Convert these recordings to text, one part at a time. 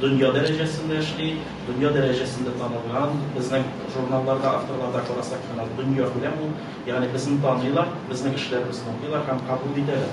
дөнья дәрәҗәсендә эшли, дөнья дәрәҗәсендә танылган, безнең журналларда, авторларда карасак, дөнья күләм ул, ягъни безне таныйлар, безнең эшләребезне укыйлар һәм кабул итәләр.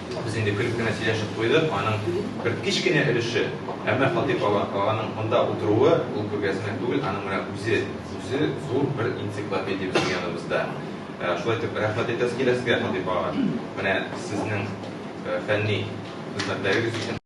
Без инде көлеп кенә сөйләшеп куйдык, аның бер кечкенә өлеше, әмма Фатыйх аганың монда утыруы, ул күргәзмә түгел, аның менә үзе, үзе зур бер энциклопедия безнең яныбызда. Шулай итеп, рәхмәт әйтәсе килә сезгә, Фатыйх ага, менә сезнең фәнни хезмәтләрегез өчен.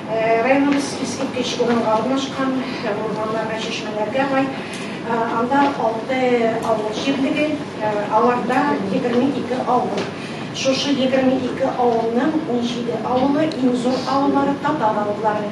Районыбыз искиткеч урынга урнашкан һәм урманнарга, чишмәләргә бай. Анда алты авыл җирлеге, аларда егерме ике авыл. Шушы егерме ике авылның унҗиде авылы, иң зур авыллары, татар авыллары.